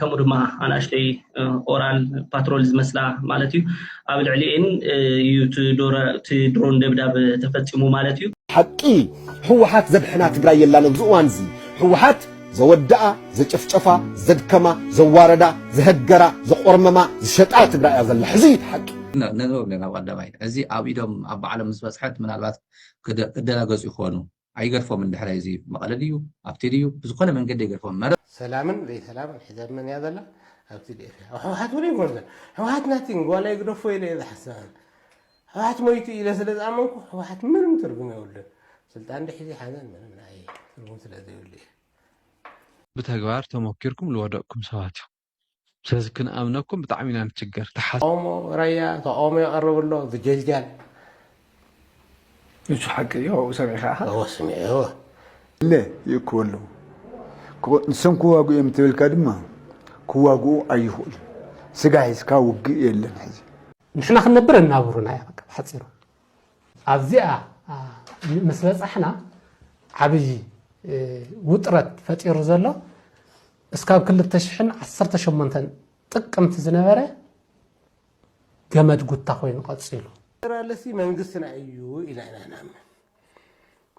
ከምኡ ድማ ኣናእሽተይ ኦራል ፓትሮል ዝመስላ ማለት እዩ ኣብ ልዕሊኤን እዩ እቲ ድሮን ደብዳብ ተፈፂሙ ማለት እዩ። ሓቂ ህወሓት ዘድሕና ትግራይ የላን ኣብዚ እዋን እዚ ህወሓት ዘወደኣ ዘጨፍጨፋ ዘድከማ ዘዋረዳ ዘሀገራ ዘቆርመማ ዝሸጣ ትግራይ እያ ዘላ ሕዚ እዩ ሓቂ ነንበብ ኣለና ኣብ ቀዳማይ እዚ ኣብ ኢዶም ኣብ ባዕሎም ምስ በፅሐት ምናልባት ክደናገፁ ይኾኑ ኣይገርፎምን ድሕረይ እዚ መቐለ ድዩ ኣብቲ ድዩ ብዝኾነ መንገዲ ኣይገርፎምን መረብ ሰላምን ዘይሰላምን ሕዛብ መን እያ ዘላ ኣብ TDF እያ ኣብ ሕውሓት ውን ኣይኮነትን ሕውሓት ናቲንግ ዋላ ይግደፎ ኢለ እየ ዝሓስብ ኣነ ሕውሓት ሞይቱ ኢለ ስለ ዝኣመንኩ ሕውሓት ምንም ትርጉም የብሉን ስልጣን እንድሕር ዘይሓዘን ምንም ንዓይ ትርጉም ስለ ዘይብሉ እየ። ብተግባር ተሞኪርኩም ልወደቅኩም ሰባት ኢኹም። ስለዚ ክንኣምነኩም ብጣዕሚ ኢና ንችገር ተሓ ኦሞ ራያ ተቃውሞ የቅርብ ኣሎ ዝጀልጃል። ንሱ ሓቂ ድዩ ኣብኡ ሰሚዕካ ኢኻ? እወ ስሚዐ እወ። እለ ይእክቡ ኣለዉ ክቅ ንሶም ክዋግኡ እዮም እንተበልካ ድማ ክዋግኡ ኣይኽእሉን ስጋ ሒዝካ ውግእ የለን ሕዚ። ንሕና ክንነብር ኣናብሩና እያ በቃ ብሓጺሩ ኣብዚኣ ምስ በጻሕና ዓቢ ውጥረት ፈጢሩ ዘሎ እስካብ ክልተ ሽሕን ዓሰርተ ሸሞንተን ጥቅምቲ ዝነበረ ገመድ ጉታ ኮይኑ ቀፂሉ። ፌደራልሲ መንግስትና እዩ ኢልና ኢና ንኣምን።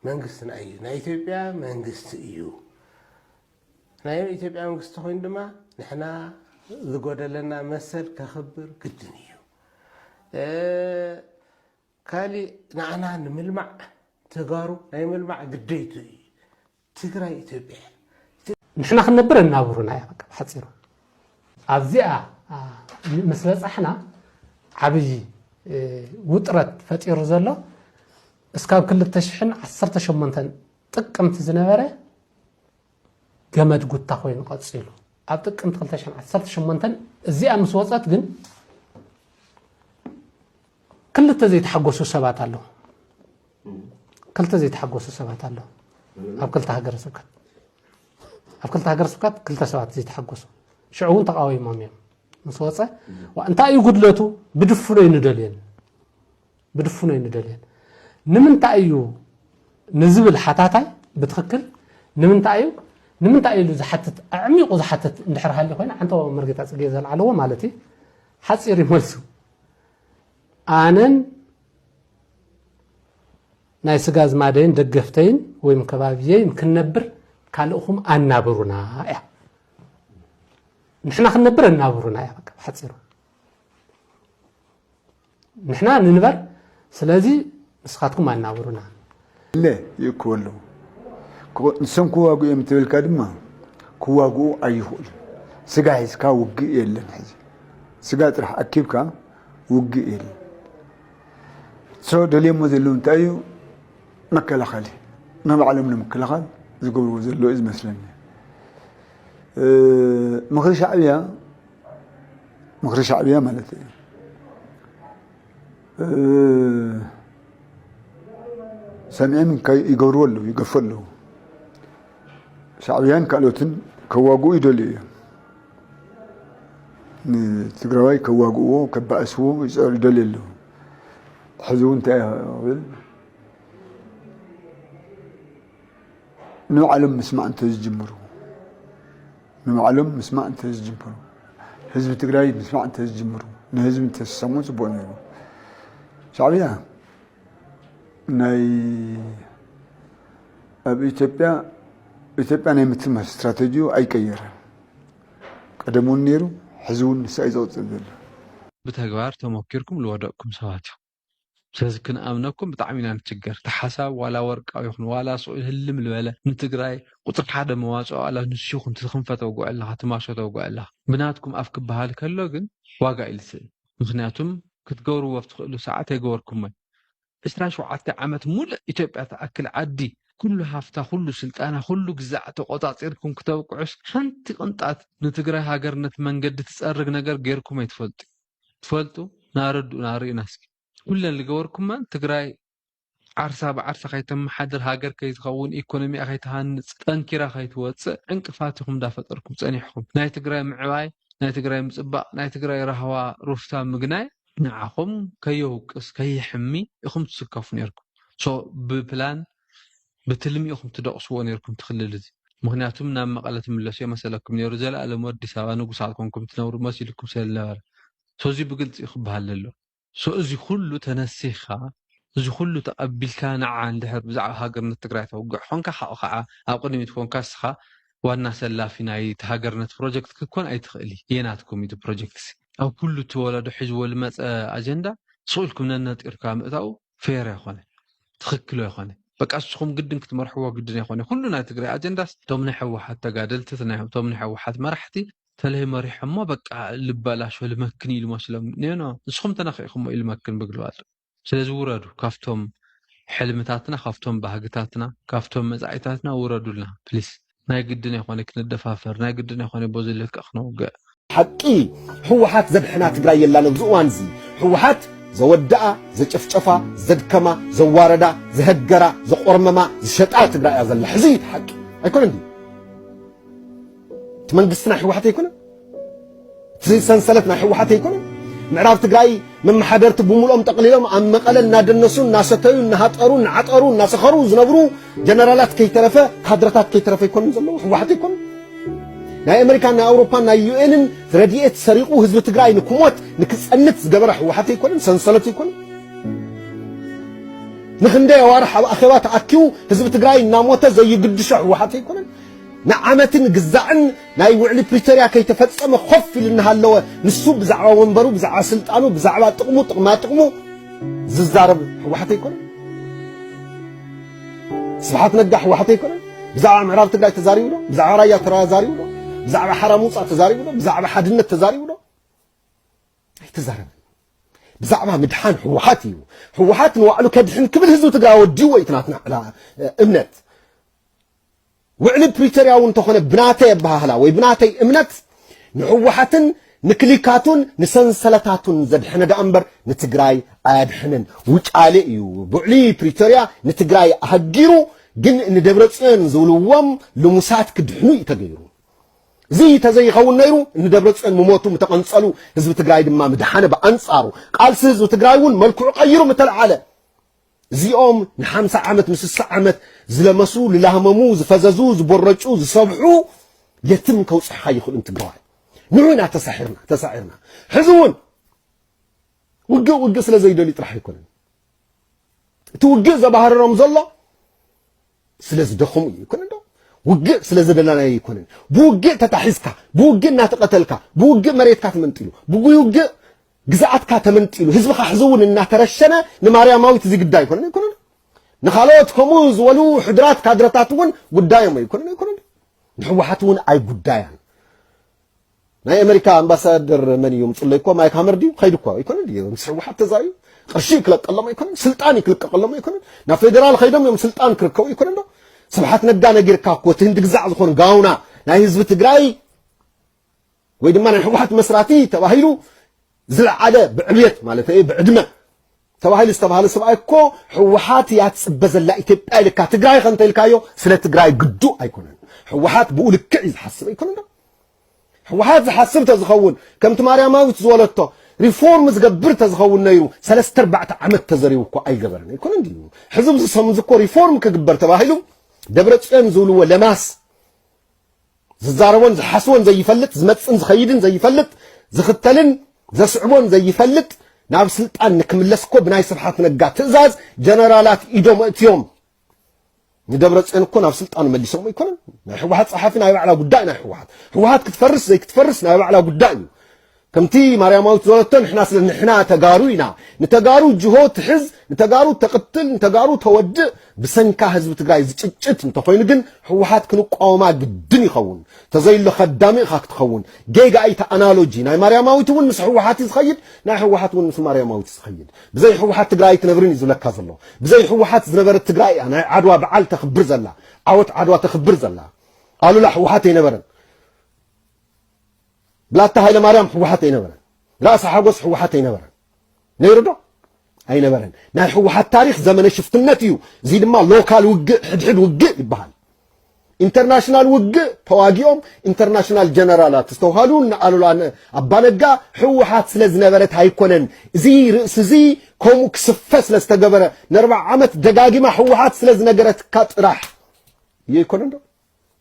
መንግስትና እዩ፣ ናይ ኢትዮጵያ መንግስቲ እዩ። ናይ ኢትዮጵያ መንግስቲ ኮይኑ ድማ ንሕና ዝጎደለና መሰል ከኽብር ግድን እዩ። ካሊእ ንዓና ንምልማዕ ተጋሩ ናይ ምልማዕ ግዴቱ እዩ ትግራይ ኢትዮጵያ እያ። ንሕና ክንነብር ኣናብሩና እያ በቃ ብሓፂሩ ኣብዚኣ ምስ በፃሕና ዓብይ ውጥረት ፈጢሩ ዘሎ እስካብ 2018 ጥቅምቲ ዝነበረ ገመድ ጉታ ኮይኑ ቀጺሉ። ኣብ ጥቅምቲ ክልተ ሽሕን ዓሰርተ ሸሞንተን እዚኣ ምስ ወጸት ግን ክልተ ዘይተሓጎሱ ሰባት ኣለዉ ክልተ ዘይተሓጎሱ ሰባት ኣለዉ ኣብ ክልተ ሃገረ ስብከት ኣብ ክልተ ሃገረ ስብከት ክልተ ሰባት ዘይተሓጎሱ ሽዑ እውን ተቃዊሞም እዮም ምስ ወፀ እንታይ እዩ ጉድለቱ ብድፍኖ ይንደልየን ብድፉን ኣይንደልየን። ንምንታይ እዩ ንዝብል ሓታታይ ብትኽክል ንምንታይ እዩ ንምንታይ እዩ ኢሉ ዝሓትት ኣዕሚቑ ዝሓትት እንድሕር ሃልዩ ኮይኑ ዓንተባዊ መርጌታ ጽጌ ዘልዓለዎ ማለት እዩ ሓጺር እዩ መልሱ ኣነን ናይ ስጋ ዝማደይን ደገፍተይን ወይም ከባቢየይን ክንነብር ካልእኹም ኣናብሩና እያ ንሕና ክንነብር ኣናብሩና እያ በቃ ብሓፂሩ ንሕና ንንበር ስለዚ ንስኻትኩም ኣናብሩና። እለ ይእክቡ ኣለዉ። ንሶም ክዋግኡ እዮም እንተበልካ ድማ ክዋግኡ ኣይኽእሉን። ስጋ ሒዝካ ውግእ የለን ሕዚ። ስጋ ጥራሕ ኣኪብካ ውግእ የለን። ሶ ደልዮሞ ዘለዉ እንታይ እዩ መከላኸሊ ንባዕሎም ንምክልኻል ዝገብርዎ ዘለዉ እዩ ዝመስለኒ ምኽሪ ሻዕብያ ምክሪ ሻዕብያ ማለት እዩ ሰሚዐን ይገብርዎ ኣለዉ ይገፉ ኣለዉ ሻዕብያን ካልኦትን ከዋግኡ ይደልዩ እዮም ንትግራዋይ ከዋግእዎ ከባእስዎ ይደልዩ ኣለዉ ሕዚ እውን እንታይ ብል ንባዕሎም ምስማዕ እንተዝጅምሩ ንባዕሎም ምስማዕ እንተዝጅምሩ፣ ህዝቢ ትግራይ ምስማዕ እንተዝጅምሩ፣ ንህዝቢ እንተዝሰምዑ ፅቡቕ ነይሩ። ሻዕብያ ናይ ኣብ ኢትዮጵያ ኢትዮጵያ ናይ ምትማር ስትራቴጂኡ ኣይቀየረን። ቀደም እውን ነይሩ ሕዚ እውን ንሳይ ዘቕፅል ዘሎ። ብተግባር ተሞኪርኩም ልወደቅኩም ሰባት ኢኹም። ስለዚ ክንኣምነኩም ብጣዕሚ ኢና ንችገር እቲ ሓሳብ ዋላ ወርቃዊ ይኹን ዋላ ሱቕ ይህልም ልበለ ንትግራይ ቁፅሪ ሓደ መዋፅኦ ኣላ ንሱ ይኹን እቲ ክንፈ ተውግዖ ኣለኻ እቲ ማሾ ተውግዖ ኣለኻ ብናትኩም ኣፍ ክበሃል ከሎ ግን ዋጋ እዩ ዝስእን ምኽንያቱም ክትገብርዎ ኣብ ትኽእሉ ሰዓት ኣይገበርኩሞን ዕስራ ሸውዓተ ዓመት ሙሉእ ኢትዮጵያ ትኣክል ዓዲ ኩሉ ሃፍታ ኩሉ ስልጣና ኩሉ ግዛዕ ተቖፃፂርኩም ክተብቅዑስ ሓንቲ ቅንጣት ንትግራይ ሃገርነት መንገዲ ትፀርግ ነገር ገይርኩም ኣይትፈልጡን ትፈልጡ ን ኣረድኡና ኣርእዩና እስኪ። ኩለን ልገበርኩመን ትግራይ ዓርሳ ብዓርሳ ከይተመሓድር ሃገር ከይትኸውን ኢኮኖሚኣ ከይትሃንፅ ጠንኪራ ከይትወፅእ ዕንቅፋት ኢኹም እንዳፈጠርኩም ፀኒሕኹም ናይ ትግራይ ምዕባይ ናይ ትግራይ ምፅባቕ ናይ ትግራይ ራህዋ ሩፍታ ምግናይ ንዓኹም ከየውቅስ ከየሕሚ ኢኹም ትስከፉ ኔርኩም so ብፕላን ብትልሚ ኢኩም ትደቅስዎ ኔርኩም እቲ ክልል እዚ ምክንያቱም ናብ መቀለ ትምለሱ የመሰለኩም ኔሩ ዘላኣለም ኣዲስ ኣበባ ንጉሳት ኮንኩም ትነብሩ መሲልኩም ሰለልነበረ so እዚ ብግልፂ ክባሃል ለለዎ so እዚ ኩሉ ተነሲካ እዚ ኩሉ ተቀቢልካ ናዓ እንድሕር ብዛዕባ ሃገርነት ትግራይ ተውግዕ ኮንካ ሓኡ ካዓ ኣብ ቅድሚት ኮንካ እስካ ዋና ሰላፊ ናይ እቲ ሃገርነት ፕሮጀክት ክትኮን ኣይትክእል እየ ናትኩም እዩ እቲ ፕሮጀክት እዚ ኣብ ኩሉ እቲ ወለዶ ሒዝዎ ልመፀ ኣጀንዳ ስቅ ኢልኩም ነነጢርካ ምእታው ፌር ኣይኮነ ትክክል ኣይኮነ በቃ ንስኹም ግድን ክትመርሕዎ ግድን ኣይኮነ ኩሉ ናይ ትግራይ ኣጀንዳስ እቶም ናይ ሕወሓት ተጋደልቲ እቶም ናይ ሕወሓት መራሕቲ ተለይ መሪሖሞ በቃ ልበላሾ ልመክን ኢሉ መስሎም ኔኖ ንስኹም ተነኺዕኹሞ ኢሉ መክን ብግልባጥ ስለዚ ውረዱ ካብቶም ሕልምታትና ካብቶም ባህግታትና ካብቶም መፃኢታትና ውረዱልና ፕሊስ ናይ ግድን ኣይኮነ ክንደፋፈር ናይ ግድን ኣይኮነ በዚ ልክዕ ክነውግዕ። ሓቂ ህወሓት ዘድሕና ትግራይ የላን ኣብዚ እዋን እዚ ህወሓት ዘወደኣ ዘጨፍጨፋ ዘድከማ ዘዋረዳ ዘሀገራ ዘቆርመማ ዝሸጣ ትግራይ እያ ዘላ ሕዚ እዩ እቲ ሓቂ ኣይኮነን ድዩ እቲ መንግስቲ ናይ ህወሓት ኣይኮነን እዚ ሰንሰለት ናይ ህወሓት ኣይኮነን። ምዕራብ ትግራይ መመሓደርቲ ብምልኦም ጠቕሊሎም ኣብ መቐለ እናደነሱ እናሰተዩ እናሃጠሩ እናዓጠሩ እናሰኸሩ ዝነብሩ ጀነራላት ከይተረፈ ካድረታት ከይተረፈ ኣይኮኑን ዘለዉ ህወሓት ኣይኮኑ ናይ ኣሜሪካን ናይ ኣውሮፓን ናይ ዩኤንን ረድኤት ሰሪቑ ህዝቢ ትግራይ ንክሞት ንክፀንት ዝገበረ ህወሓት ኣይኮነን ሰንሰለት ኣይኮነን ንክንደይ ኣዋርሕ ኣብ ኣኼባ ተኣኪቡ ህዝቢ ትግራይ እናሞተ ዘይግድሾ ህወሓት ኣይኮነን ንዓመትን ግዛዕን ናይ ውዕሊ ፕሪቶርያ ከይተፈጸመ ኮፍ ኢሉ እናሃለወ ንሱ ብዛዕባ ወንበሩ፣ ብዛዕባ ስልጣኑ፣ ብዛዕባ ጥቕሙ ጥቕማጥቕሙ ዝዛረብ ህወሓት ኣይኮነን። ስብሓት ነጋ ህወሓት ኣይኮነን። ብዛዕባ ምዕራብ ትግራይ ተዛሪቡ ዶ? ብዛዕባ ራያ ተዛሪቡ ዶ? ብዛዕባ ሓራ ሙፃ ተዛሪቡ ዶ? ብዛዕባ ሓድነት ተዛሪቡ ዶ? ኣይተዛረበን። ብዛዕባ ምድሓን ህወሓት እዩ። ህወሓት ንባዕሉ ከድሕን ክብል ህዝቢ ትግራይ ወዲዎ እዩ እቲ ናትና እምነት። ውዕሊ ፕሪቶርያ እውን እንተኾነ ብናተይ ኣበሃህላ ወይ ብናተይ እምነት ንህወሓትን ንክሊካቱን ንሰንሰለታቱን ዘድሐነ ደኣ እምበር ንትግራይ ኣያድሕንን። ውጫሌ እዩ ብውዕሊ ፕሪቶርያ ንትግራይ ኣሀጊሩ ግን ንደብረፅዮን ዝብልዎም ልሙሳት ክድሕኑ እዩ ተገይሩ። እዚ ተዘይኸውን ነይሩ ንደብረፅዮን ምሞቱ ምተቐንፀሉ ህዝቢ ትግራይ ድማ ምደሓነ ብኣንፃሩ ቃልሲ ህዝቢ ትግራይ እውን መልክዑ ቀይሩ ምተልዓለ እዚኦም ንሓምሳ ዓመት ምስ ስሳ ዓመት ዝለመሱ ልላህመሙ ዝፈዘዙ ዝቦረጩ ዝሰብሑ የትም ከውጽሕኻ ይኽእሉን ትግራዋይ ንዑ ኢና ተሳሒርና ተሳዒርና ሕዚ እውን ውግእ ውግእ ስለ ዘይደልዩ ጥራሕ ኣይኮነን እቲ ውግእ ዘባህርሮም ዘሎ ስለ ዝደኸሙ እዩ ይኮነን ዶ ውግእ ስለ ዘደናናዮ ይኮነን ብውግእ ተታሒዝካ ብውግእ እናተቐተልካ ብውግእ መሬትካ ተመንጢሉ ብውግእ ግዝኣትካ ተመንጢሉ ህዝብኻ ሕዚ እውን እናተረሸነ ንማርያማዊት እዚ ግዳይ ይኮነን ኣይኮነን ንካልኦት ከምኡ ዝበሉ ሕድራት ካድረታት እውን ጉዳዮም ኣይኮነን ኣይኮነን ንሕወሓት እውን ኣይጉዳያን ናይ ኣመሪካ ኣምባሳደር መን እዩ ምጽለይ እኮ ማይክ ሃመር ድዩ ከይዱ እኮ ኣይኮነን ድዩ ምስ ህወሓት ተዛርዩ ቅርሺ ክለቀሎም ኣይኮነን ስልጣን ክልቀቀሎም ኣይኮነን ናብ ፌደራል ከይዶም እዮም ስልጣን ክርከቡ ኣይኮነን ዶ ስብሓት ነጋ ነጊርካ እኮ እቲ ህንድግዛዕ ዝኾን ጋውና ናይ ህዝቢ ትግራይ ወይ ድማ ናይ ህወሓት መስራቲ ተባሂሉ ዝለዓለ ብዕብየት ማለተይ ብዕድመ ተባሂሉ ዝተባህለ ሰብኣይ እኮ ህወሓት እያ ትፅበ ዘላ ኢትዮጵያ ኢልካ ትግራይ ከ እንተኢልካዮ ስለ ትግራይ ግዱእ ኣይኮነን ህወሓት ብኡ ልክዕ እዩ ዝሓስብ ኣይኮነን ዶ ህወሓት ዝሓስብ ተዝኸውን ከምቲ ማርያማዊት ዝወለቶ ሪፎርም ዝገብር ተዝኸውን ነይሩ ሰለስተ ኣርባዕተ ዓመት ተዘሪቡ እኮ ኣይገበረን ኣይኮነን ድዩ ሕዚ ዝሰምዝ እኮ ሪፎርም ክግበር ተባሂሉ ደብረ ፅዮን ዝብልዎ ለማስ ዝዛረቦን ዝሓስቦን ዘይፈልጥ ዝመጽን ዝኸይድን ዘይፈልጥ ዝኽተልን ዘስዕቦን ዘይፈልጥ ናብ ስልጣን ንክምለስ እኮ ብናይ ስብሓት ነጋ ትእዛዝ ጀነራላት ኢዶም እትዮም ንደብረ ፅዮን እኮ ናብ ስልጣኑ መሊሶም ኣይኮነን ናይ ህወሓት ፀሓፊ ናይ ባዕላ ጉዳይ ናይ ህወሓት ህወሓት ክትፈርስ ዘይክትፈርስ ናይ ባዕላ ጉዳይ እዩ ከምቲ ማርያማዊት ዝበለቶ ንሕና ስለ ንሕና ተጋሩ ኢና ንተጋሩ ጅሆ ትሕዝ ንተጋሩ ተቅትል ንተጋሩ ተወድእ ብሰንካ ህዝቢ ትግራይ ዝጭጭት እንተኮይኑ ግን ህወሓት ክንቋወማ ግድን ይኸውን ተዘይሎ ከዳሚ ኢኻ ክትኸውን ጌጋ ኢቲ ኣናሎጂ ናይ ማርያማዊት እውን ምስ ህወሓት እዩ ዝኸይድ ናይ ህወሓት እውን ምስ ማርያማዊት ዝኸይድ ብዘይ ህወሓት ትግራይ ኣይትነብርን እዩ ዝብለካ ዘሎ ብዘይ ህወሓት ዝነበረት ትግራይ እያ ናይ ዓድዋ በዓል ተኽብር ዘላ ዓወት ዓድዋ ተኽብር ዘላ ኣሉላ ህወሓት ኣይነበረን ብላታ ሃይለማርያም ህወሓት ኣይነበረን ራእሲ ሓጎስ ህወሓት ኣይነበረን ነይሩ ዶ ኣይነበረን ናይ ህወሓት ታሪክ ዘመነ ሽፍትነት እዩ እዚ ድማ ሎካል ውግእ ሕድሕድ ውግእ ይበሃል ኢንተርናሽናል ውግእ ተዋጊኦም ኢንተርናሽናል ጀነራላት ዝተውሃሉ ንኣሉላ ኣባነጋ ህወሓት ስለ ዝነበረት ኣይኮነን እዚ ርእሲ እዚ ከምኡ ክስፈ ስለ ዝተገበረ ንኣርባዓ ዓመት ደጋጊማ ህወሓት ስለ ዝነገረትካ ጥራሕ እየ ኣይኮነን ዶ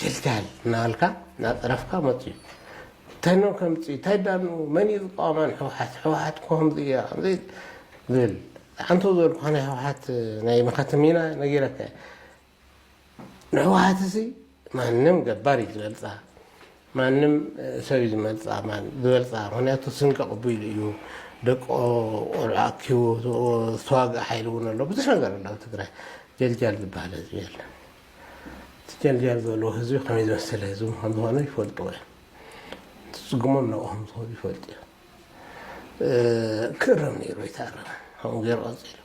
ጀልጃል እናበልካ እናፀረፍካ መፅዩ እንታይ ዶ ከምፅእ እንታይ ዳኣሉ መን እዩ ዝቃወማ ንሕውሓት ሕውሓት እኮ ከምዚ እያ ከምዚ ዝብል ኣንተው ዝበልኩካ ናይ ሕውሓት ናይ መኸተ ሚና ነጊረካ እየ ንሕውሓት እሲ ማንም ገባር እዩ ዝበልፃ ማንም ሰብ እዩ ዝመልፃ ዝበልፃ ምክንያቱ ስም ከቕቢሉ እዩ ደቆ ቆልዑ ኣኪቡ ዝተዋግእ ሓይሊ እውን ኣሎ ብዙሕ ነገር ኣሎ ኣብ ትግራይ ጀልጃል ዝበሃል ህዝቢ የለን እቲ ጀልጃል ዘለዎ ህዝቢ ከመይ ዝመሰለ ህዝቢ ከም ዝኾነ ይፈልጥዎ እዮም። ዝፅግሞም ናብኡ ከም ዝኸዱ ይፈልጡ እዮም። ክእረም ነይሩ ኣይተኣረመ ከምኡ ገይሩ ቀፂሉ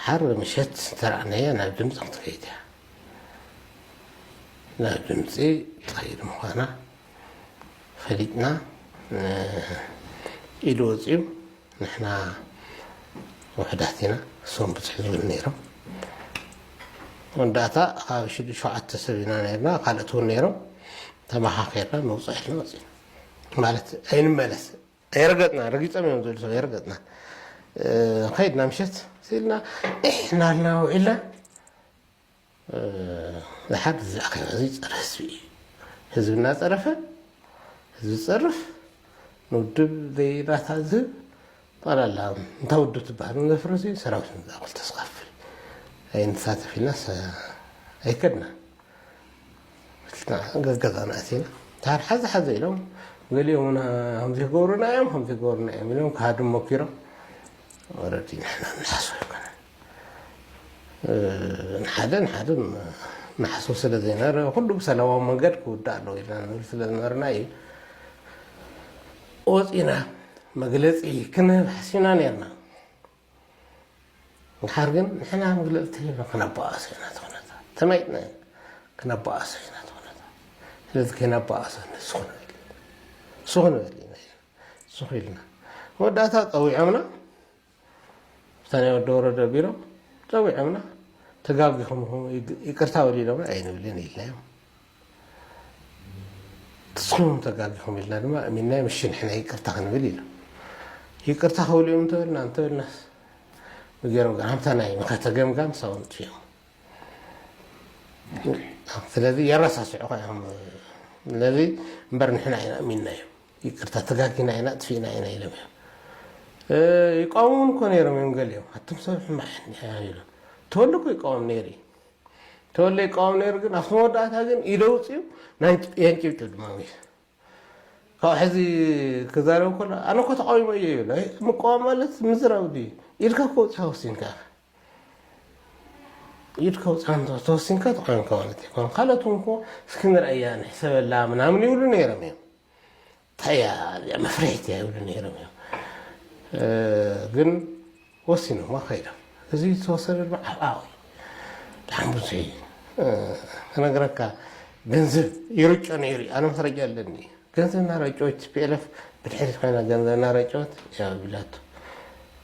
ዓርቢ ምሸት ዝተረኣናያ ናብ ድምፂ ክትከይድ እያ ናብ ድምፂ ትኸይድ ምዃና ፈሊጥና ኢሉ ወፂኡ ንሕና ውሕዳት ኢና እሶም ብዝሕ ዝብሉ ነይሮም መወዳእታ ካብ ሽዱ ሸውዓተ ሰብ ኢና ነርና ካልኦት እውን ነይሮም ተመኻኺርና ንውፅዕ ኢልና ወፂና ማለት ኣይንመለስ ኣይረገጥና ረጊፆም እዮም ዝብሉ ሰብ ኣይረገጥና ከይድና ምሸት ስኢልና ኢሕና ኣልና ውዒልና ዝሓት እዚ ኣኼባ እዚ ፀረ ህዝቢ እዩ። ህዝቢ እናፀረፈ ህዝቢ ዝፀርፍ ንውድብ ዘይራታ ዝህብ ጠቕላላ እንታ ውድብ ትበሃል ዘፍርስ እዩ ሰራዊት ንዝኣክል ተስካፍል ኣይንሳተፍ ኢልና ኣይከድና ገዛና ኣቲና ታር ሓዘ ሓዘ ኢሎም ገሊኦም ና ከምዚ ክገብሩና እዮም ከምዚ ክገብሩና እዮም ኢሎም ክሃዱ ሞኪሮም ወረዲ ንሕና ንሓስቦ ኣይኮነን ንሓደ ንሓደ ንሓስብ ስለ ዘይነበረ ኩሉ ብሰላማዊ መንገድ ክውዳእ ኣለዎ ኢልና ንብል ስለ ዝነበርና እዩ ወፂና መግለፂ ክንህብ ሓሲብና ነርና ንሓር ግን ንሕና መግለፂ ተሂብና ክነባኣሶ ኢና ትኹነታ ተማይጥና ኢና ክነባኣሶ ኢና ትኹነታ ስለዚ ከይነባኣሶ ንሱ ክንብል ንሱ ክንብል ኢና ንሱ ክኢልና መወዳእታ ፀዊዖምና ኣብታ ናይ ወዲ ወረደ ቢሮ ጸዊዖምና ተጋጊኹም ኢኹም ይቅርታ በሉ ኢሎምና ኣይንብልን ኢልናዮም ንስኹም ተጋጊኹም ኢልና ድማ እሚንናዮም እሺ ንሕና ይቅርታ ክንብል ኢሎም ይቅርታ ክብሉ እዮም እንተበልና እንተበልናስ ገይሮም ጋር ሃምታ ናይ ንኸተ ገምጋም ሳውን ጥፊኦም ስለዚ የረሳስዑ ኸ እዮም ስለዚ እምበር ንሕና ኢና እሚንናዮም ይቅርታ ተጋጊና ኢና ኣጥፊእና ኢና ኢሎም እዮም ይቃወሙን እኮ ነይሮም እዮም ገሊኦም ኣቶም ሰብ ሕማቅ ሕኒሕያ ይብሎም ተወለ እኮ ይቃወም ነይሩ እዩ ተወለ ይቃወም ነይሩ ግን ኣብቲ መወዳእታ ግን ኢደ ውፅኡ የንጭብጭ ድማ እዩ ካብ ሕዚ ክዛረብ ከሎ ኣነ እኮ ተቃዊሞ እየ ይብሎ ምቃወም ማለት ምዝራብ ድዩ ኢድካ እኮ ውፅካ ወሲንካ ኢድ ከውጽኣ እንተ ተወሲንካ ጥቓንካ ማለት እዩ ከም ካልኦት እውን እኮ እስኪ ንርኣያ ንሕሰበላ ምናምን ይብሉ ነይሮም እዮም እንታይ እያ እዚኣ መፍርሒት እያ ይብሉ ነይሮም እዮም ግን ወሲኖማ ከይዶም እዚ ዝተወሰደ ድማ ዓብኣዊ ብጣዕሚ ብዙሕ እዩ ክነግረካ ገንዘብ ይርጮ ነይሩ እዩ ኣነ መስረጃ ኣለኒ ገንዘብ እናረጨወት ፒኤልኤፍ ብድሕሪት ኮይና ገንዘብ እናረጨወት እያ ቢላቶ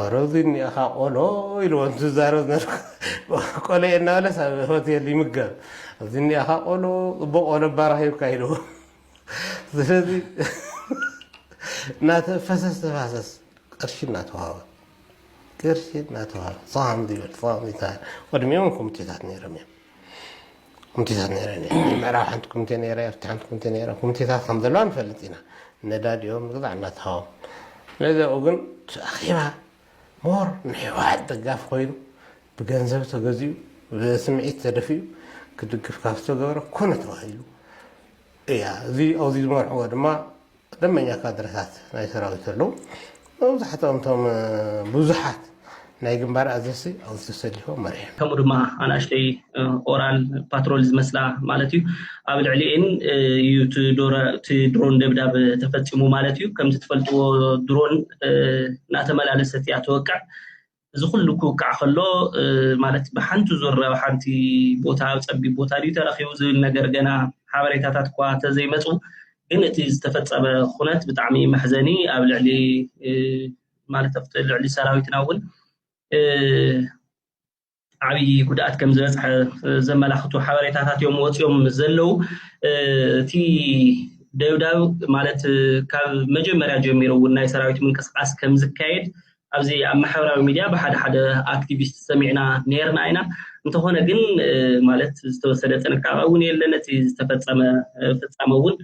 ኣረ እዙይ እኒኣኻ ቆሎ ኢልዎ እንትዛረብ ዝነበረ ቆሎየ እናበለስ ኣብ ሆቴል ይምገብ እዚ እኒኣኻ ቆሎ ፅቡቅ ቆሎ ባራኽ ሂብካ ኢልዎ ስለዚ እናተ ፈሰስ ተፋሰስ ቅርሺ እናተዋሃበ ቅርሺ እናተዋሃበ ሳም ይበል ሳም ይታ ቅድሚኦም ኮሚቴታት ነይሮም እዮም ኮሚቴታት ነይረን እየን። ናይ ምዕራብ ሓንቲ ኮሚቴ ነይራ፣ ኤርትራ ሓንቲ ኮሚቴ ነይራ። ኮሚቴታት ከም ዘለዋ ንፈልጥ ኢና። ነዳዲኦም ግዛዕ እናተሃቦም። ስለዚ ኣብኡ ግን እቲ ኣኼባ ሞር ንህወሓት ደጋፊ ኮይኑ ብገንዘብ ተገዚኡ ብስምዒት ተደፊኡ ክድግፍ ካብ ዝተገበረ ኮነ ተባሂሉ እያ። እዚ ኣብዚ ዝመርሕዎ ድማ ደመኛ ካድረታት ናይ ሰራዊት ኣለዉ። መብዛሕትኦም እቶም ብዙሓት ናይ ግንባር ኣዘዝቲ ኣብኡ ተሰሊፎም መሪሖም። ከምኡ ድማ ኣናእሽተይ ኦራል ፓትሮል ዝመስላ ማለት እዩ ኣብ ልዕሊኤን እዩ እቲ ድሮን ደብዳብ ተፈፂሙ ማለት እዩ። ከምቲ ትፈልጥዎ ድሮን እናተመላለሰት እያ ትወቅዕ። እዚ ኩሉ ክውቃዕ ከሎ ማለት ብሓንቲ ዙር ኣብ ሓንቲ ቦታ ኣብ ፀቢብ ቦታ ድዩ ተረኪቡ ዝብል ነገር ገና ሓበሬታታት እኳ ተዘይመፁ ግን እቲ ዝተፈፀመ ኩነት ብጣዕሚ መሕዘኒ ኣብ ልዕሊ ማለት ኣብቲ ልዕሊ ሰራዊትና እውን ዓብዪ ጉድኣት ከም ዝበፅሐ ዘመላኽቱ ሓበሬታታት እዮም ወፂኦም ዘለው እቲ ደብዳብ ማለት ካብ መጀመርያ ጀሚሩ እውን ናይ ሰራዊት ምንቅስቃስ ከም ዝካየድ ኣብዚ ኣብ ማሕበራዊ ሚድያ ብሓደ ሓደ ኣክቲቪስት ሰሚዕና ነይርና ኢና እንተኾነ ግን ማለት ዝተወሰደ ጥንቃቐ እውን የለን እቲ ዝተፈፀመ ፍፃመ እውን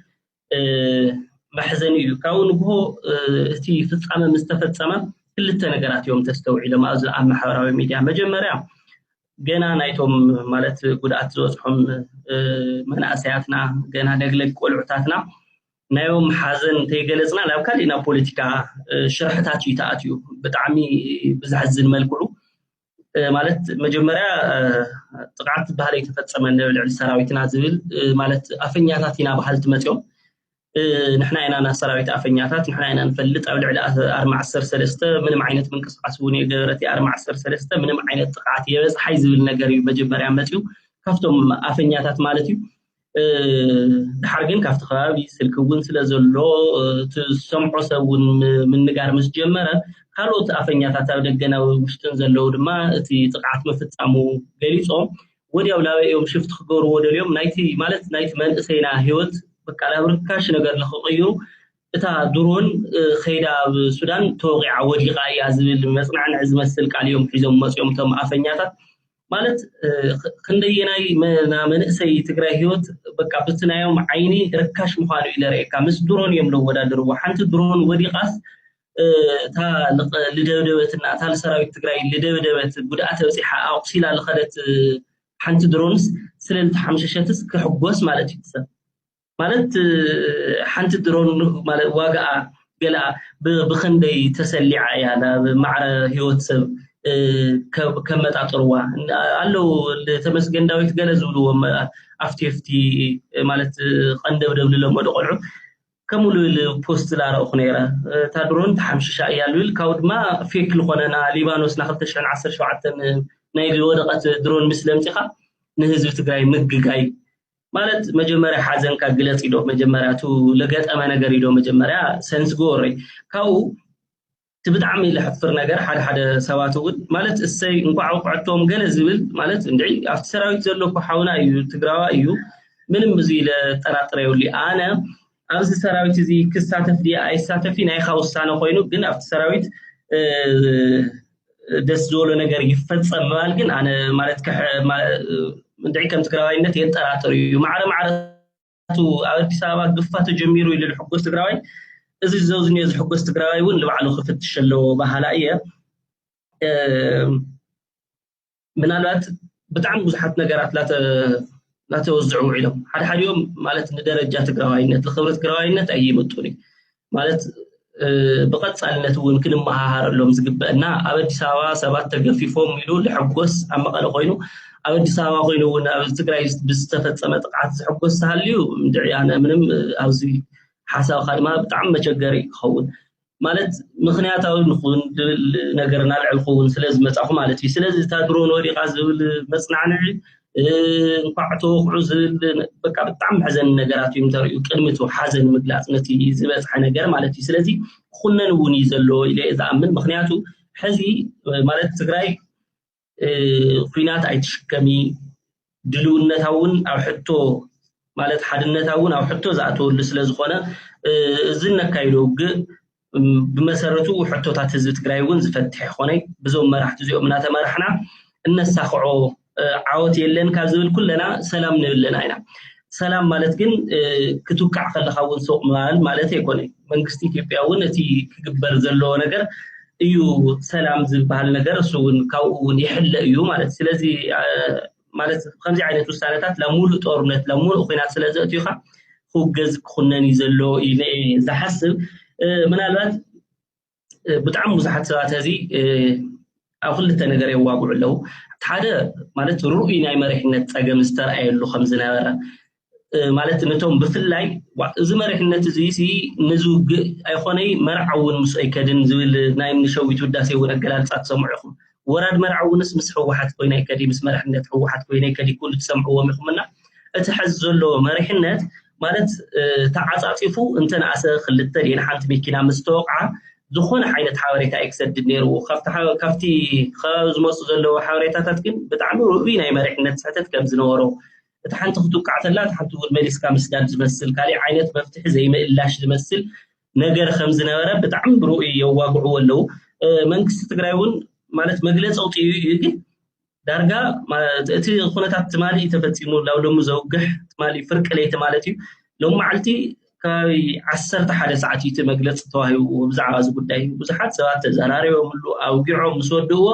መሕዘኒ እዩ ካብኡ ንግሆ እቲ ፍፃመ ምስ ተፈፀመ ክልተ ነገራት እዮም ተስተውዒሎም ኣብዚ ኣብ ማሕበራዊ ሚድያ መጀመርያ ገና ናይቶም ማለት ጉድኣት ዝበፅሖም መናእሰያትና ገና ደግለግ ቆልዑታትና ናዮም ሓዘን እንተይገለፅና ናብ ካሊእ ናብ ፖለቲካ ሽርሕታት እዩ ተኣትዩ ብጣዕሚ ብዘሕዝን መልክዑ ማለት መጀመርያ ጥቕዓት ዝበሃል ኣይተፈፀመ ንልዕሊ ሰራዊትና ዝብል ማለት ኣፈኛታት ኢና በሃልቲ መፅኦም ንሕና ኢና ናብ ሰራዊት ኣፈኛታት ንሕና ኢና ንፈልጥ ኣብ ልዕሊ ኣርማ ዓሰርተ ሰለስተ ምንም ዓይነት ምንቅስቃስ እውን የገበረት ኣርማ ዓሰርተ ሰለስተ ምንም ዓይነት ጥቕዓት የበፅሓይ ዝብል ነገር እዩ መጀመርያ መፅኡ ካብቶም ኣፈኛታት ማለት እዩ ድሓር ግን ካብቲ ከባቢ ስልኪ እውን ስለ ዘሎ እቲ ዝሰምዖ ሰብ እውን ምንጋር ምስ ጀመረ ካልኦት ኣፈኛታት ኣብ ደገና ውሽጥን ዘለዉ ድማ እቲ ጥቕዓት ምፍፃሙ ገሊፆም ወዲያው ላበይ እዮም ሽፍት ክገብርዎ ደልዮም ናይቲ ማለት ናይቲ መንእሰይና ህይወት በቃ ናብ ርካሽ ነገር ንክቕይሩ እታ ድሮን ከይዳ ኣብ ሱዳን ተወቂዓ ወዲቓ እያ ዝብል መፅናዕንዕ ዝመስል ቃል እዮም ሒዞም መፅኦም እቶም ኣፈኛታት ማለት ክንደየናይ መንእሰይ ትግራይ ህይወት በቃ ብቲ ናዮም ዓይኒ ርካሽ ምዃኑ እዩ ለርእየካ ምስ ድሮን እዮም ለወዳድርዎ ሓንቲ ድሮን ወዲቓስ እታ ልደብደበት እና እታ ሰራዊት ትግራይ ልደብደበት ጉድኣት በፂሓ ኣቑሲላ ልኸደት ሓንቲ ድሮንስ ስለልተሓምሸሸትስ ክሕጎስ ማለት እዩ ሰብ ማለት ሓንቲ ድሮን ዋጋኣ ገለኣ ብኸንደይ ተሰሊዓ እያ ናብ ማዕረ ህይወት ሰብ ከመጣጥርዋ ኣለዉ ተመስገን ዳዊት ገለ ዝብልዎም ኣፍቲ ፍቲ ማለት ቀንደብደብ ዝለመዱ ቆልዑ ከምኡ ልብል ፖስት ላረእኹ ነይረ እታ ድሮን ተሓምሽሻ እያ ልብል ካብኡ ድማ ፌክ ዝኾነና ሊባኖስ ና 217 ናይ ዝወደቐት ድሮን ምስ ለምፂኻ ንህዝቢ ትግራይ ምግጋይ ማለት መጀመርያ ሓዘንካ ግለፅ ኢዶ መጀመርያ እቲ ለገጠመ ነገር ኢዶ መጀመርያ ሰንስ ጎወሪ ካብኡ እቲ ብጣዕሚ ለሕፍር ነገር ሓደ ሓደ ሰባት እውን ማለት እሰይ እንኳዕ ውቅዕቶም ገለ ዝብል ማለት እንድዒ ኣብቲ ሰራዊት ዘሎ እኮ ሓውና እዩ ትግራዋ እዩ ምንም ብዙ ኢለ ጠራጥረ የብሉ ኣነ ኣብዚ ሰራዊት እዚ ክሳተፍ ድየ ኣይሳተፊ ናይኻ ውሳነ ኮይኑ ግን ኣብቲ ሰራዊት ደስ ዝበሎ ነገር ይፈፀም ምባል ግን ኣነ ማለት እንድዒ ከም ትግራዋይነት የጠራጥር እዩ ማዕረ ማዕረቱ ኣብ ኣዲስ ኣበባ ግፋ ተጀሚሩ ኢሉ ዝሕጎስ ትግራዋይ እዚ ዘውዝኒዮ ዝሕጎስ ትግራዋይ እውን ንባዕሉ ክፍትሽ ኣለዎ በሃላ እየ ምናልባት ብጣዕሚ ብዙሓት ነገራት ላተወዝዑ ውዒሎም ሓደ ሓዲኦም ማለት ንደረጃ ትግራዋይነት ንክብረት ትግራዋይነት ኣይምጡን እዩ ማለት ብቐፃልነት እውን ክንመሃሃረሎም ዝግበአና ኣብ ኣዲስ ኣበባ ሰባት ተገፊፎም ኢሉ ዝሕጎስ ኣብ መቐለ ኮይኑ ኣብ ኣዲስ ኣበባ ኮይኑ እውን ኣብ ትግራይ ብዝተፈፀመ ጥቕዓት ዝሕጎስ ዝሃልዩ እንድዕያነ ምንም ኣብዚ ሓሳብካ ድማ ብጣዕሚ መቸገሪ ክኸውን ማለት ምክንያታዊ ንኹን ድብል ነገር ናልዕል ክውን ስለ ዝመፃኹ ማለት እዩ ስለዚ እታ ድሮ ንወዲቓ ዝብል መፅናዕንዒ እንኳዕ ተወቕዑ ዝብል በቃ ብጣዕሚ መሕዘኒ ነገራት እዮም ተርእዩ ቅድሚ እቲ ሓዘን ምግላፅ ነቲ ዝበፅሐ ነገር ማለት እዩ ስለዚ ክኹነን እውን እዩ ዘለዎ ኢለ እየ ዝኣምን ምክንያቱ ሕዚ ማለት ትግራይ ኩናት ኣይትሽከሚ ድልውነታ እውን ኣብ ሕቶ ማለት ሓድነታ እውን ኣብ ሕቶ ዝኣተወሉ ስለ ዝኾነ እዚ እነካይዶ ውግእ ብመሰረቱ ሕቶታት ህዝቢ ትግራይ እውን ዝፈትሕ ይኾነ ብዞም መራሕቲ እዚኦም እናተመራሕና እነሳኽዖ ዓወት የለን ካብ ዝብል ኩለና ሰላም ንብል ኣለና ኢና ሰላም ማለት ግን ክትውቃዕ ከለካ እውን ሱቅ ምባል ማለት ኣይኮነ መንግስቲ ኢትዮጵያ እውን እቲ ክግበር ዘለዎ ነገር እዩ ሰላም ዝበሃል ነገር እሱ እውን ካብኡ እውን ይሕለ እዩ ማለት ስለዚ ማለት ከምዚ ዓይነት ውሳነታት ናብ ሙሉእ ጦርነት ናብ ሙሉእ ኩናት ስለ ዘእትዩካ ክውገዝ ክኹነን እዩ ዘሎ እዩ ዝሓስብ ምናልባት ብጣዕሚ ብዙሓት ሰባት ሕዚ ኣብ ክልተ ነገር የዋግዑ ኣለዉ እቲ ሓደ ማለት ርኡይ ናይ መሪሕነት ፀገም ዝተረኣየሉ ከም ዝነበረ ማለት ነቶም ብፍላይ እዚ መሪሕነት እዚ ነዚ ውግእ ኣይኮነይ መርዓ እውን ምስ ኣይከድን ዝብል ናይ ንሸዊት ውዳሴ እውን ኣገላልፃ ትሰምዑ ኢኹም ወራድ መርዓውንስ ምስ ህወሓት ኮይነ ይከዲ ምስ መሪሕነት ህወሓት ኮይነ ይከዲ ኩሉ ትሰምዕዎም ኢኹም እና እቲ ሐዚ ዘሎ መሪሕነት ማለት ተዓፃፂፉ እንተነኣሰ ክልተ ድየን ሓንቲ መኪና ምስ ተወቕዓ ዝኾነ ዓይነት ሓበሬታ እዩ ክሰድድ ነይርዎ ካብቲ ከባቢ ዝመፁ ዘለዎ ሓበሬታታት ግን ብጣዕሚ ርኡይ ናይ መሪሕነት ስሕተት ከም ዝነበሮ እቲ ሓንቲ ክትውቃዕ ተላ እቲ ሓንቲ እውን መሊስካ ምስዳድ ዝመስል ካሊእ ዓይነት መፍትሒ ዘይምእላሽ ዝመስል ነገር ከምዝነበረ ብጣዕሚ ብርኡ የዋግዕዎ ኣለው መንግስቲ ትግራይ እውን ማለት መግለፂ ኣውፅኡ እዩ ግን ዳርጋ እቲ ኩነታት ትማሊ ተፈፂሙ ላብ ሎሚ ዘውግሕ ትማሊ ፍርቂ ለይቲ ማለት እዩ ሎም መዓልቲ ከባቢ ዓሰርተ ሓደ ሰዓት እዩ እቲ መግለፂ ተዋሂብዎ ብዛዕባ እዚ ጉዳይ ብዙሓት ሰባት ተዘራሪቦምሉ ኣውጊዖም ምስ ወድእዎ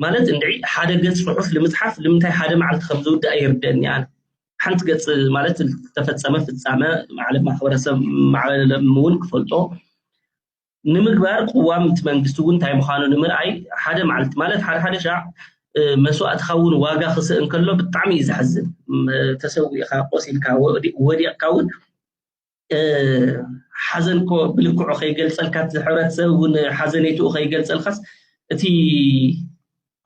ማለት እንድዒ ሓደ ገጽ ጽሑፍ ንምጽሓፍ ንምንታይ ሓደ መዓልቲ ከም ዝውድእ ኣይርድአኒ ኣነ ሓንቲ ገጽ ማለት ዝተፈጸመ ፍጻመ ማለት ማሕበረሰብ ማዕበለ እውን ክፈልጦ ንምግባር ቅዋም እቲ መንግስቲ እውን እንታይ ምዃኑ ንምርኣይ ሓደ መዓልቲ ማለት ሓደ ሓደ ሻዕ መስዋእትኻ እውን ዋጋ ክስእ እንከሎ ብጣዕሚ እዩ ዘሕዝን ተሰዊእኻ ቆሲልካ ወዲቕካ እውን ሓዘን እኮ ብልክዑ ከይገልፀልካ እቲ ሕብረተሰብ እውን ሓዘኔትኡ ከይገልፀልካስ እቲ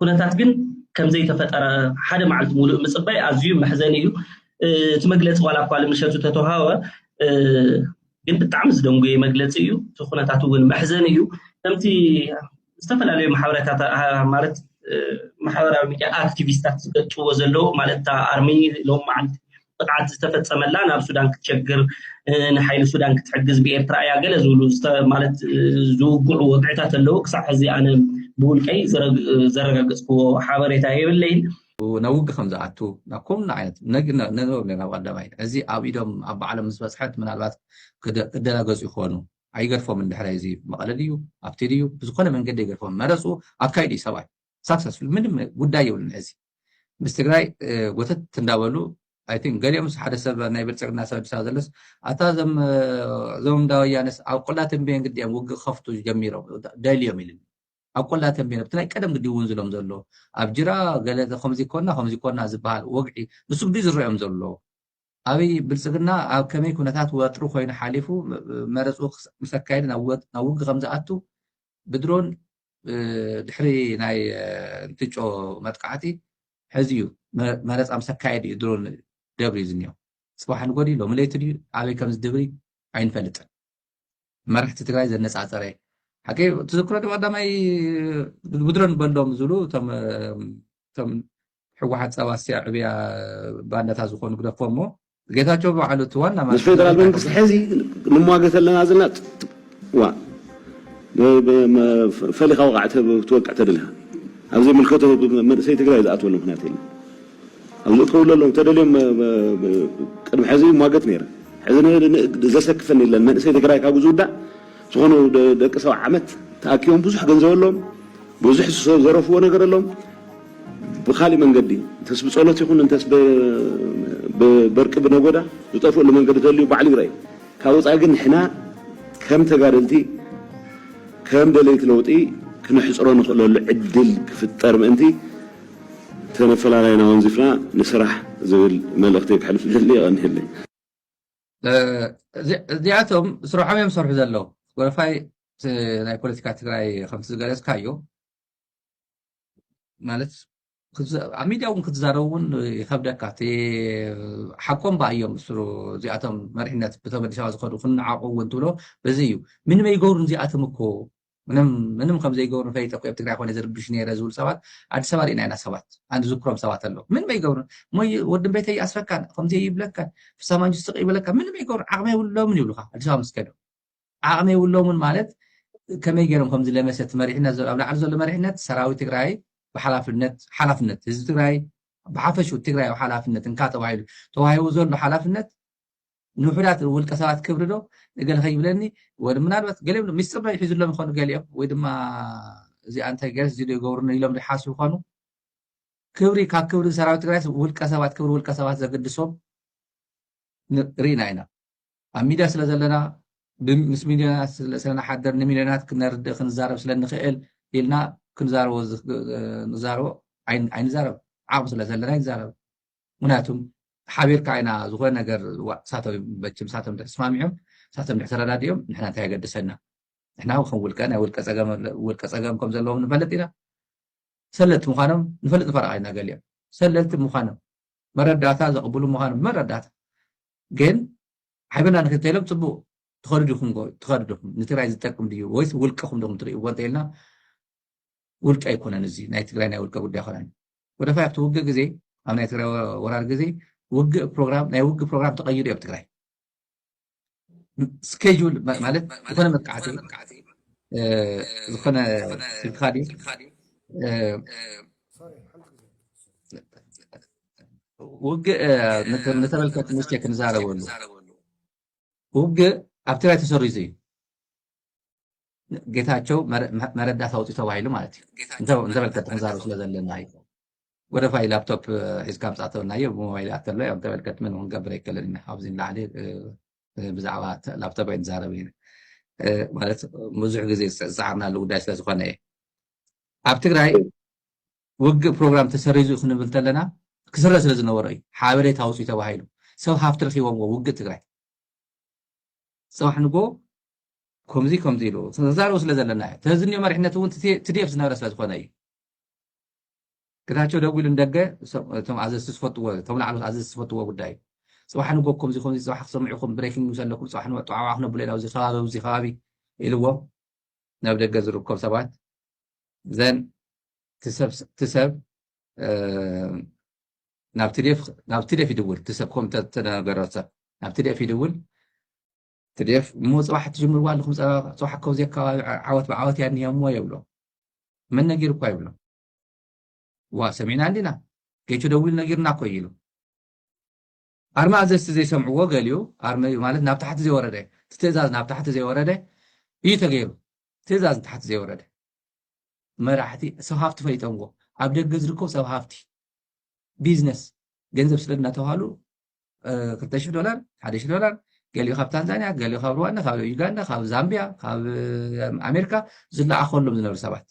ኩነታት ግን ከምዘይተፈጠረ ሓደ መዓልቲ ሙሉእ ምፅባይ ኣዝዩ መሕዘኒ እዩ እቲ መግለፂ ዋላ እኳ ልምሸቱ ተተዋሃወ ግን ብጣዕሚ ዝደንጉየ መግለፂ እዩ እቲ ኩነታት እውን መሕዘኒ እዩ ከምቲ ዝተፈላለዩ ማሕበረታት ማለት ማሕበራዊ ሚድያ ኣክቲቪስታት ዝገልፅዎ ዘለዉ ማለት እታ ኣርሚ ሎም መዓልቲ ቅጥዓት ዝተፈፀመላ ናብ ሱዳን ክትሸግር ንሓይሊ ሱዳን ክትሕግዝ ብኤርትራ እያ ገለ ዝብሉ ማለት ዝውግዑ ወግዕታት ኣለዉ ክሳዕ ሕዚ ኣነ ብውልቀይ ዘረጋገፅክዎ ሓበሬታ የብለይን ናብ ውግ ከም ዝኣቱ ናብ ኮምና ዓይነት ነንበብለ ናብ ቀዳማይ እዚ ኣብ ኢዶም ኣብ ባዕሎም ምስ በፅሐት ምናልባት ክደናገፁ ይኾኑ ኣይገርፎምን ድሕረይ እዚ መቐለ ድዩ ኣብቲ ድዩ ብዝኾነ መንገዲ ኣይገርፎምን መረፅኡ ኣካይዱ እዩ ሰብኣይ ሳክሰስፉል ምንም ጉዳይ የብሉን ሕዚ ምስ ትግራይ ጎተት እንዳበሉ ኣይ ቲንክ ገሊኦምስ ሓደ ሰብ ናይ ብልፅግና ሰብ ኣዲስ ኣበባ ዘለስ ኣታ እዞም እዞም እንዳ ወያነስ ኣብ ቆላ ተንቤን ግዲኦም ውግእ ክኸፍቱ ጀሚሮም ደልዮም ኢሉኒ ኣብ ቆላ ተንቤን ኣብቲ ናይ ቀደም ግዲ እውን ዝሎም ዘሎ ኣብ ጅራ ገለ ከምዚ ኮና ከምዚ ኮና ዝበሃል ወግዒ ንሱ ግዲ ዝረኦም ዘሎ ኣብይ ብልፅግና ኣብ ከመይ ኩነታት ወጥሪ ኮይኑ ሓሊፉ መረፅኡ ምስ ኣካየደ ናብ ውግእ ከምዝኣቱ ብድሮን ድሕሪ ናይ እንትጮ መጥቃዕቲ ሕዚ እዩ መረፃ ምስ ኣካየደ እዩ ድሮን ደብርዩ ዝኒኦ ፅባሕ ንጎዲ ሎሚ ለይቲ ድዩ ኣበይ ከምዝድብሪ ኣይንፈልጥን መራሕቲ ትግራይ ዘነፃፀረ ሓቂ ትዝክሮ ዶ ቀዳማይ ብድሮ ንበሎም ዝብሉ እቶም ሕወሓት ፀባስቲያ ዕብያ ባንዳታት ዝኾኑ ግደፎ እሞ ጌታቸው በዓሉ እቲ ዋና ምስ ፌደራል መንግስቲ ሕዚ ንሟገት ኣለና ዘለና ዋ ፈሊኻ ወቃዕ ትወቅዕ ተደሊኻ ኣብ ዘይምልከቶ መንእሰይ ትግራይ ዝኣትወሉ ምክንያት የለን ኣብ ንእትኸውለሎም እንተደልዮም ቅድሚ ሕዚ ይሟገት ነይረ ሕዚ ዘሰክፈን የለን መንእሰይ ትግራይ ካብኡ ዝውዳእ ዝኾኑ ደቂ ሰው ዓመት ተኣኪቦም ብዙሕ ገንዘብ ኣሎም ብዙሕ ዘረፍዎ ነገር ኣሎም ብካሊእ መንገዲ እንተስ ብፀሎት ይኹን እንተስ በርቂ ብነጎዳ ዝጠፍእሉ መንገዲ ተልዩ ባዕሉ ይረእ ካብ ወፃኢ ግን ንሕና ከም ተጋደልቲ ከም ደለይቲ ለውጢ ክነሕፅሮ ንኽእለሉ ዕድል ክፍጠር ምእንቲ ተነፈላላይና ወንዚፍና ንስራሕ ዝብል መልእኽተይ ከሕልፍ ዝደሊ የቐንየለይ። እዚኣቶም ስርሖም እዮም ዝሰርሑ ዘለዉ ጎረፋይ ናይ ፖለቲካ ትግራይ ከምቲ ዝገለፅካዮ ማለት ኣብ ሚድያ እውን ክትዛረቡ እውን ይከብደካ እቲ ሓቆም በኣ እዮም ምስሩ እዚኣቶም መሪሕነት ብቶም ኣዲስ ኣበባ ዝኸዱ ክንዓቑ እውን ትብሎ በዚ እዩ ምንመ ይገብሩ እዚኣቶም እኮ ምንም ምንም ከም ዘይገብሩ ፈሊጠ እኮ ኣብ ትግራይ ኮነ ዝርብሽ ነይረ ዝብሉ ሰባት ኣዲስ ኣበባ ርኢና ኢና ሰባት ኣንድ ዝክሮም ሰባት ኣለዉ ምንም ኣይገብሩን እሞ ወዲ ቤተ ይኣስረካን ከምዚ ይብለካን ፍሳ ማንጁ ስቅ ይብለካ ምንም ኣይገብሩ ዓቕሚ የብሎምን ይብሉካ ኣዲስ ኣበባ ምስ ከዱ ዓቕሚ የብሎምን ማለት ከመይ ገይሮም ከምዚ ለመሰት መሪሕነት ኣብ ላዕሊ ዘሎ መሪሕነት ሰራዊት ትግራይ ብሓላፍነት ሓላፍነት ህዝቢ ትግራይ ብሓፈሹ ትግራይ ሓላፍነት እንካ ተባሂሉ ተዋሂቡ ዘሎ ሓላፍነት ንውሑዳት ውልቀ ሰባት ክብሪ ዶ ንገለ ከይብለኒ ወ ምናልባት ገሊኦም ዶ ሚስጥር ዶ ይሕዝሎም ይኾኑ ገሊኦም ወይ ድማ እዚ ኣንታይ ገርስ እዚ ዶ ይገብሩኒ ኢሎም ዶ ይሓስቡ ይኾኑ ክብሪ ካብ ክብሪ ሰራዊት ትግራይ ውልቀ ሰባት ክብሪ ውልቀ ሰባት ዘገድሶም ርኢና ኢና ኣብ ሚድያ ስለ ዘለና ምስ ሚልዮናት ስለንሓደር ንሚልዮናት ክነርድእ ክንዛረብ ስለንኽእል ኢልና ክንዛረቦ ንዛረቦ ኣይንዛረብ ዓቕሚ ስለ ዘለና ይንዛረብ ምክንያቱም ሓቢርካ ኢና ዝኾነ ነገር ዋእ ሳቶም መችም ሳቶም ድሕር ተስማሚዖም ሳቶም ድሕር ተረዳዲኦም ንሕና እንታይ የገድሰና ንሕና ከም ውልቀ ናይ ውልቀ ፀገም ውልቀ ፀገም ከም ዘለዎም ንፈልጥ ኢና ሰለልቲ ምዃኖም ንፈልጥ ንፈረቃ ኢና ገሊኦም ሰለልቲ ምዃኖም መረዳእታ ዘቕብሉ ምዃኖም መረዳእታ ግን ሓቢርና ንክድ ተኢሎም ፅቡቅ ትኸዱ ዲኹም ትኸዱ ዲኹም ንትግራይ ዝጠቅም ድዩ ወይስ ውልቀኹም ዲኹም ትርእይዎ እንተኢልና ውልቀ ኣይኮነን እዚ ናይ ትግራይ ናይ ውልቀ ጉዳይ ኮነን ወደፋይ ኣብቲ ውግእ ግዜ ኣብ ናይ ትግራይ ወራር ግዜ ውግእ ፕሮግራም ናይ ውግእ ፕሮግራም ተቐይዱ ኣብ ትግራይ ስኬጁል ማለት ዝኾነ መጥቃዕቲ ዝኾነ ስልክኻ ድዩ ውግእ ንተመልከት ንስቸ ክንዛረበሉ ውግእ ኣብ ትግራይ ተሰሪዙ እዩ ጌታቸው መረዳት ኣውፅኡ ተባሂሉ ማለት እዩ እንተበልከ ተዛሩ ስለዘለና እዩ ወደ ፋይ ላፕቶፕ ሒዝካ ምፃእተውናዮ ብሞባይል ኣተሎ ዮ እንተበልከት ምን ክንገብር ኣይከለን ኢና ኣብዚ ንላዕሊ ብዛዕባ ላፕቶፕ ኣይንዛረብ ኢና ማለት ብዙሕ ግዜ ዝፀዓርናሉ ጉዳይ ስለዝኾነ እዩ ኣብ ትግራይ ውግእ ፕሮግራም ተሰሪዙ ክንብል ተለና ክስረ ስለ ዝነበሮ እዩ ሓበሬታ ኣውፅኡ ተባሂሉ ሰብ ሃፍቲ ረኪቦምዎ ውግእ ትግራይ ፅባሕ ንጎ ኮምዚ ኮምዚ ኢሉ ተዛረቡ ስለ ዘለና እዩ ተዝንዮ መሪሕነት እውን ትዲኤፍ ዝነበረ ስለ ዝኾነ እዩ ግታቸው ደጉ ኢሉ ንደገ እቶም ኣዘዝቲ ዝፈትዎ እቶም ላዕሎት ኣዘዝቲ ዝፈትዎ ጉዳይ ፅባሕ ንጎ ኮምዚ ኮምዚ ፅባሕ ክትሰምዑ ኢኹም ብሬኪንግ ኒውስ ኣለኩም ፅባሕ ንወጣዓዋ ክነብሉ ኢና ኣብዚ ከባቢ ኣብዚ ከባቢ ኢልዎ ናብ ደገ ዝርከቡ ሰባት ዘን ትሰብ ናብ ትዴፍ ይድውል ትሰብ ኮም ተነገረ ሰብ ናብ ትዴፍ ይድውል tdf እሞ ፅባሕ ትጅምርዋ ኣለኹም ፀባ ፅባሕ እኮ ኣብዚኣ ከባቢ ዓወት ብዓወት እያ እኒሄ እሞ የብሎ መን ነጊርኳ ይብሎ ዋ ሰሚዕና እንዲና ጌቹ ደዊሉ ነጊርና እኮ እዩ ኢሉ ኣርመ ኣዘዝቲ ዘይሰምዕዎ ገሊኡ ኣርመ እዩ ማለት ናብ ታሕቲ ዘይወረደ እቲ ትእዛዝ ናብ ታሕቲ ዘይወረደ እዩ ተገይሩ ትእዛዝ ንታሕቲ ዘይወረደ መራሕቲ ሰብ ሃፍቲ ፈሊጠምዎ ኣብ ደገ ዝርከቡ ሰብ ሃፍቲ ቢዝነስ ገንዘብ ስለ እናተባሃሉ ክልተ ሽሕ ዶላር ሓደ ሽሕ ዶላር ገሊኡ ካብ ታንዛንያ ገሊኡ ካብ ሩዋንዳ ካብ ዩጋንዳ ካብ ዛምብያ ካብ ኣሜሪካ ዝለኣኸሎም ዝነበሩ ሰባት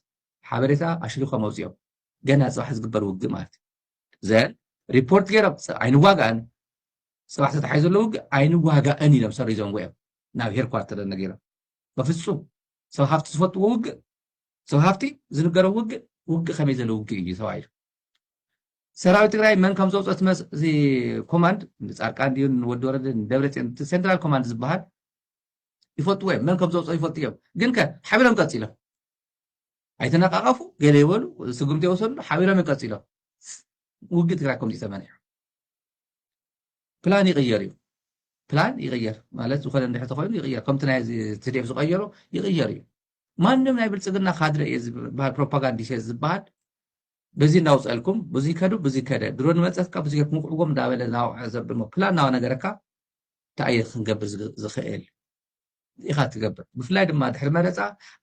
ሓበሬታ ኣሽሪኮም ኣውፅኦም ገና ፅባሕ ዝግበር ውግእ ማለት እዩ ዘ ሪፖርት ገይሮም ኣይንዋጋእን ፅባሕ ተታሓይ ዘሎ ውግእ ኣይንዋጋእን ኢሎም ሰሪዞም ወዮም ናብ ሄርኳርተር ነገሮም በፍፁም ሰብ ሃፍቲ ዝፈትዎ ውግእ ሰብ ሃፍቲ ዝንገሮ ውግእ ውግእ ከመይ ዘሎ ውግእ እዩ ተባሂሉ ሰራዊት ትግራይ መን ከም ዘውፅኦ እቲ መስ- እዚ ኮማንድ ንፃድቃን ድዩ ንወዲ ወረደ ንደብረፅዮን እቲ ሴንትራል ኮማንድ ዝበሃል ይፈልጥዎ እዮም መን ከም ዘውፅኦ ይፈልጡ እዮም ግን ከ ሓቢሮም ቀፂሎም ኣይተነቃቀፉ ገለ ይበሉ ስጉምቲ የወሰድሉ ሓቢሮም እዮም ቀፂሎም ውግእ ትግራይ ከምዚ ተመኒሑ ፕላን ይቕየር እዩ ፕላን ይቕየር ማለት ዝኾነ እንድሕር ተኮይኑ ይቕየር ከምቲ ናይ ትዴፍ ዝቐየሮ ይቕየር እዩ ማንም ናይ ብልፅግና ካድረ እየ ዝበሃል ፕሮፓጋንዲስ እየ ዝበሃል በዚ እንዳውፀልኩም ብዙይ ከዱ ብዙይ ከደ ድሮ ንመፀትካ ብዙይ ገርኩም ውቅዕዎም እንዳበለ እናወቅዐ ዘብድሞ ፕላን እናነገረካ እንታይ እየ ክንገብር ዝኽእል ኢኻ ትገብር ብፍላይ ድማ ድሕሪ መረፃ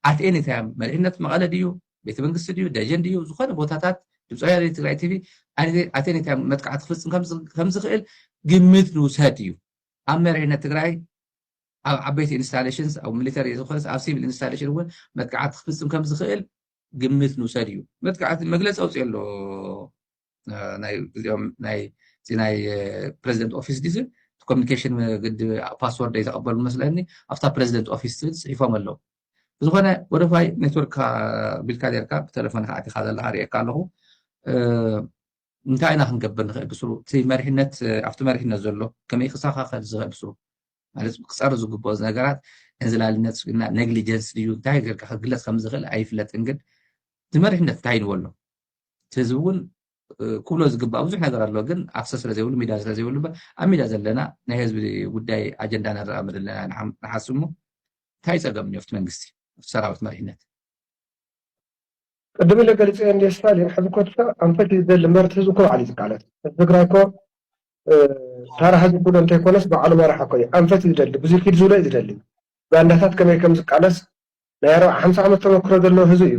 ኣት ኤኒ ታይም መሪሕነት መቐለ ድዩ ቤተ መንግስቲ ድዩ ደጀን ድዩ ዝኾነ ቦታታት ድምፂ ወያነ ትግራይ ቲቪ ኣት ኤኒ ታይም መጥቃዕቲ ክፍፅም ከም ዝኽእል ግምት ንውሰድ እዩ ኣብ መሪሕነት ትግራይ ኣብ ዓበይቲ ኢንስታሌሽንስ ኣብ ሚሊተሪ ዝኾነስ ኣብ ሲቪል ኢንስታሌሽን እውን መጥቃዕቲ ክፍፅም ከም ዝኽእል ግምት ንውሰድ እዩ መጥቃዕቲ መግለፂ ኣውፅኦ ኣሎ እዚ ናይ ፕረዚደንት ኦፊስ ዲዚ ኮሚኒኬሽን ግዲ ፓስወርድ ዘይተቐበሉ መስለኒ ኣብታ ፕረዚደንት ኦፊስ ትብል ፅሒፎም ኣለዉ ብዝኾነ ወደፋይ ኔትወርክ ቢልካ ኔርካ ብተለፎን ከዓ ዲካ ዘለካ ሪኤካ ኣለኹ እንታይ ኢና ክንገብር ንኽእል ብስሩ እቲ መሪሕነት ኣብቲ መሪሕነት ዘሎ ከመይ ክሳኻኸል ዝኽእል ብስሩ ማለት ክፀር ዝግብኦ ነገራት እንዝላልነት ስጉና ነግሊጀንስ ድዩ እንታይ ገርካ ክግለፅ ከም ዝኽእል ኣይፍለጥን ግን እቲ መሪሕነት እንታይ ንበሎ እቲ ህዝቢ እውን ክብሎ ዝግባእ ብዙሕ ነገር ኣሎ ግን ኣክሰስ ስለ ዘይብሉ ሚድያ ስለ ዘይብሉ ኣብ ሚድያ ዘለና ናይ ህዝቢ ጉዳይ ኣጀንዳ ነራምድ ኣለና ንሓስብ እሞ እንታይ ፀገም እኒኦ ኣብቲ መንግስቲ ኣብቲ ሰራዊት መሪሕነት ቅድም ኢለ ገሊፀ እንደ ስታሊን ሕዚ ኮትሳ ኣንፈት ይደሊ መርት ህዝቢ እኮ ባዕሉ እዩ ዝቃለስ ህዝቢ ትግራይ እኮ ታራ ህዝቢ ኩዶ እንተይኮነስ ባዕሉ መራሒ እኮ እዩ ኣንፈት እዩ ዝደሊ ብዙይ ኪድ ዝብሎ እዩ ዝደሊ ባንዳታት ከመይ ከምዝቃለስ ናይ ኣርብዓ ሓምሳ ዓመት ተመክሮ ዘለዎ ህዝቢ እዩ።